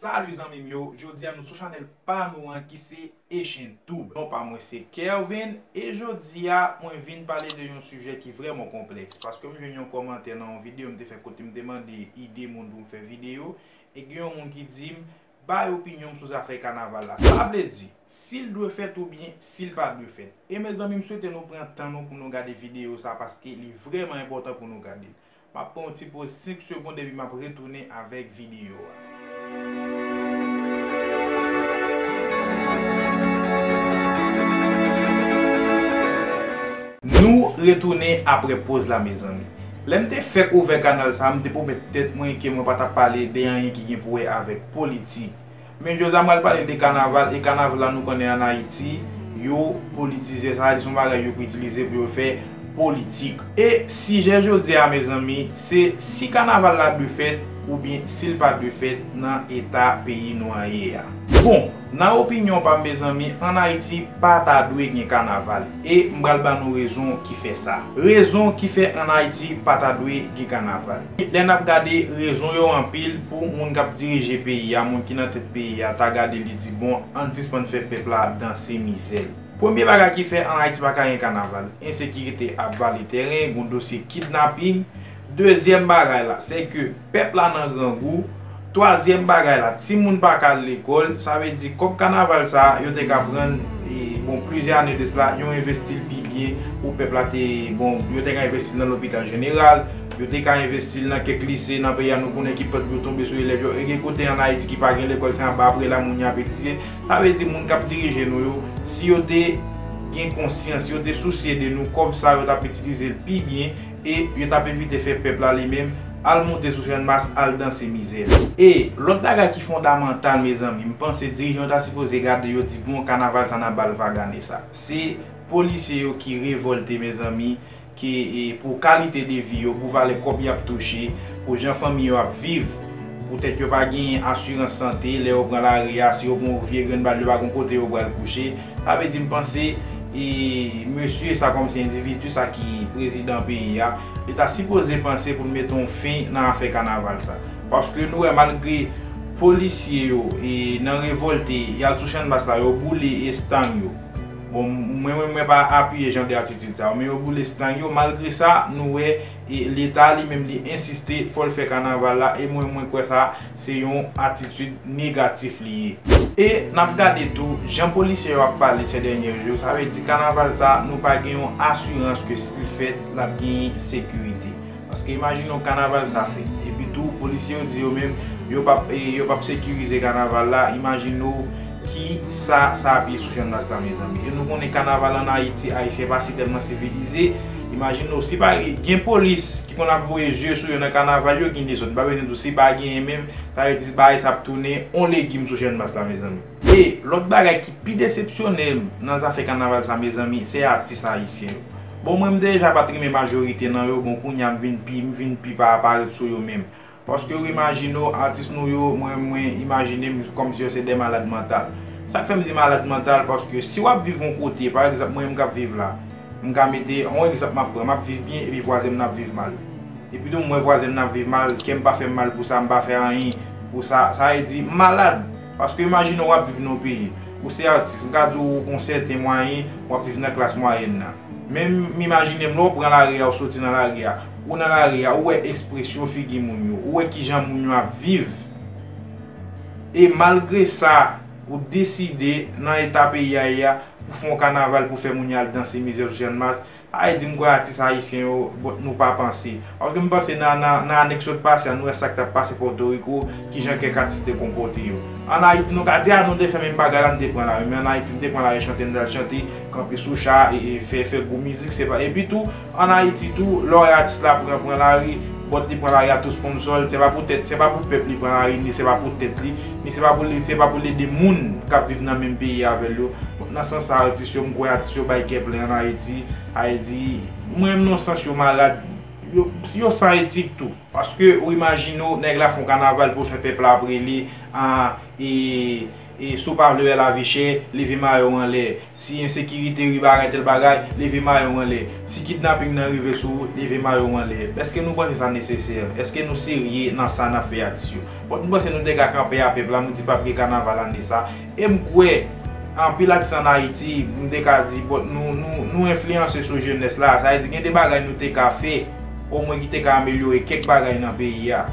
Salut zanmim yo, jodia nou sou chanèl pa nou an ki se Echintube. Non pa mwen se Kervin e jodia mwen vin pale de yon sijè ki vrèman konplèks paske m jwenn yon kòmantè nan yon video m te fè kote m te mande ide moun pou m fè video e gen yon moun ki di m bay opinyon m sou zafè kanaval la sa vle di si l dwe fèt oubyen si l pa dwe fèt e mezanmi m swete nou pran tan nou pou nou gade video sa paske li vrèman enpòtan pou nou gade l M ap pran yon ti poz 5 segond epi m ap retounen avèk videyo a. Nou retounen aprè poz la mezanmi. Lè m te fèk ouvè kanal sa a m te pwomèt tèt mwen ke mwen pa t ap pale de anyen ki gen pou wè avèk politik. Men jodya pral pale de kanaval e kanaval la nou konnen an ayiti yo politize sa se yon bagay yo itilize pou yo fè politik. E sijè jodya a mezanmi se si kanaval la dwe fèt oubyen sil pa dwe fèt nan eta peyi nou an ye a. Bon, nan opinyon pam mezanmi an ayiti pa ta dwe gen kanaval e m pral ba nou rezon ki fè sa. Rezon ki fè an ayiti pa ta dwe gen kanaval. Lè n ap gade, rezon yo anpil pou moun k ap dirije peyi a, moun ki nan tèt peyi a, ta gade li di bon, an n sispann fè pèp la danse mizè l. Premye bagay ki fè ann Ayiti pa ka gen kanaval, ensekirite ap vale tèren, gon dosye kidnaping. Dezyèm bagay la, sèke pèp la nan grangou. Twazyèm bagay la, timoun pa ka al lekòl, sa vle di kòb kanaval sa a yo te ka pran l bon plizyè ane de sla yo envesti l pi byen pou pèp la te bon yo te ka envesti l nan lopital jeneral, yo te ka envesti l nan kèk lise nan peyi a nou konnen ki pant yo tonbe sou elèv yo e gen kote an Ayiti ki pa gen lekòl se anba bre la moun yo ap etidye, sa vle di moun k ap dirije nou yo si yo te gen konsyans si yo te sousye de nou kòb sa a yo t ap itilize l pi byen. E yo tap evite fè pèp la li menm al moute sou channmas al danse mizè li. E lòt bagay ki fondamantal mezanmi m panse dirijan yo ta sipoze gade yo di bon kanaval sa nap bal vag ane sa se polisye yo ki revolte mezanmi ke pou kalite de vi yo pou valè kòb yap touche pou jan fanmi yo ap viv Poutèt yo pa genyen asirans sante, lè yo pran lari a, si yo pran yon vye grenn bal yo pa gon kote yo pral kouche. Sa vle di m panse e mesye sa kòm se endividu sa ki prezidan peyi a, li ta sipoze panse pou l mete yon fen nan afè kanaval sa. Paske nou wè malgre polisye yo e nan revòlte, y al sou channmas la yo boule estang yo. Bon mwen menm mwen pa apiye jan de atitid sa yo, men yo boule estang yo, malgre sa nou wè E leta li menm li ensiste fò l fè kanaval la e mwen mwen kwè sa se yon atitid negatif li ye. E n ap gade tou jan polisye yo ap pale sè dènyè jou sa vle di kanaval sa nou pa gen yon asirans ke si l fèt l ap genyen sekirite. Paske imajino kanaval sa fèt epi tou polisye yo di yo menm yo p ap yo p ap sekirize kanaval la imajino Ki sa sa ap ye sou Chanmas la mezanmi? Jan nou konnen kanaval an Ayiti, Ayisyen pa si tèlman sivilize. Imajine w, si pa gen polis ki konn ap voye zye sou yo nan kanaval yo, gen dezòd. M pa bezwen di w si pa genyen menm, sa vle di bagay sa ap tounen on legim sou Chanmas la mezanmi. E, lòt bagay ki pi desepsyone m nan zafè kanaval sa mezanmi, se atis Ayisyen yo. Bon mwen m deja pa t renmen majorite nan yo, bon kounye a m vin pi, m vin pi pa pa ret sou yo menm. Paske ou imajine w atis nou yo mwen mwen imajine m kòmsi yo se de malad mantal. Sa k fè m di malad mantal paske si w ap viv yon kote pa egzanp mwen menm k ap viv la m ka mete yon egzanp m ap pran m ap viv byen epi vwazen m nan ap viv mal epi tou m wè vwazen m nan ap viv mal kè m pa fè m mal pou sa m pa fè anyen pou sa sa vle di m malad paske imajine w ap viv nan yon peyi ou se atis m ka di w gen yon sèten mwayen w ap viv nan klas mwayèn nan men m imajine m lè w pran lari a ou soti nan lari a Ou nan lari a, ou wè espresyon figi moun yo, ou wè kijan moun yo ap viv. E malgre sa, ou deside nan eta peyi a ye a, pou fè yon kanaval pou fè moun yo al danse mizè sou channmas. Ay di m kwè atis ayisyen yo, bon, nou pa panse. Paske m panse nan nan ane k sot pase a, nou wè sa k t ap pase Pòtoriko, kijan kèk atis te konpòte yo. An Ayiti nou ka di a nou te fè menm bagay la, nou te pran lari. Men an Ayiti nou te pran lari chante, nou t al chante, kanpe sou cha, e e fè fè gwo mizik. Se pa epi tou, An Ayiti tou, lè w wè atis la pran pran lari, bòt li pran lari a tou sponsò l, se pa pou tèt, se pa pou pèp li pran lari ni se pa pou tèt li, ni se pa pou li, se pa pou l ede moun k ap viv nan menm peyi avè l yo. Bon, nan sans sa a atis yo, m kwè atis yo bay kè plen an Ayiti. Ayiti, m renmn nan yon sans yo malad, yo, yo san etik tou. Paske ou imajine w, nèg la fè yon kanaval pou w s wè pèp la ap rele, an, e. Si w pa vle wè lavichè, leve mayo w anlè. Si ensekirite rive ak entèl bagay, leve mayo w anlè. Si kidnaping nan rive sou ou, leve mayo w anlè. Èske nou panse sa nesesè? Èske nou serye nan sa n ap fè atis yo? Fòk nou panse nou te ka kanpe a pèp la, nou di pap gen kanaval ane sa. E m kwè, anpil atis ann Ayiti, m te ka di, bon, nou enfliyanse sou jenès la. Sa vle di gen de bagay nou te ka fè, omwen ki te ka amelyore kèk bagay nan peyi a.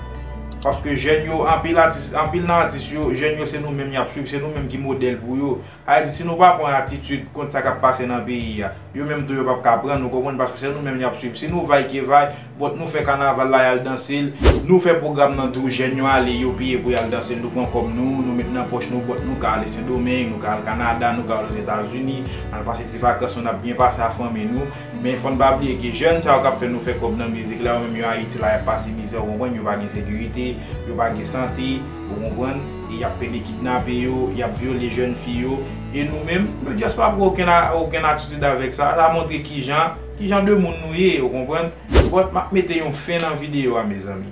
Paske jèn yo anpil atis anpil nan atis yo jèn yo se nou menm yap swiv se nou menm ki modèl pou yo sa vle di si nou pa pran atitid kont sa kap pase nan peyi a yo menm tou yo pap ka pran ou konprann paske se nou menm yap swiv si nou vay ke vay bòt nou fè kanaval la yal danse l nou fè pwogram nan tou jèn yo ale yo peye pou yal danse l nou pran kòb nou nou met nan pòch nou bòt nou ka ale sendomeng nou ka al kanada nou ka al ozetazini al pase ti vakans nou nap byen pase a fanmi nou. Men fòn pa bliye ke jèn sa yo kap fè nou fè kòb nan mizik la yo menm yo ayiti la yap pase mizè ou konprann yo pa gen sekirite yo pa gen sante ou konprann e yap pede kidnape yo yap vyole jèn fi yo e nou menm nou just pa pran okenn okenn atitid avèk sa sa montre kijan kijan de moun nou ye ou konprann bon map mete yon fen nan video a mezanmi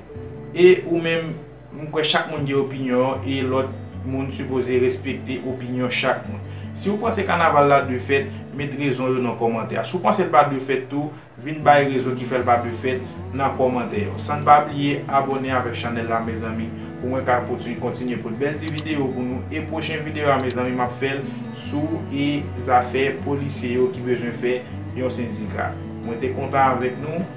e ou menm. M kwè chak moun gen opinyon e lòt moun sipoze respekte opinyon chak moun. Si ou panse kanaval la dwe fèt, met rezon yo nan kòmantè a. Si w panse l pa dwe fèt tou, vin bay rezon ki fè l pa dwe fèt nan kòmantè yo. San n pa bliye abòne avèk chanèl la mezanmi pou mwen ka kontinye pot bèl ti videyo pou nou e pwochen videyo a mezanmi m ap fè l sou e zafè polisye yo ki bezwen fè yon sendika. Mwen te kontan avèk nou.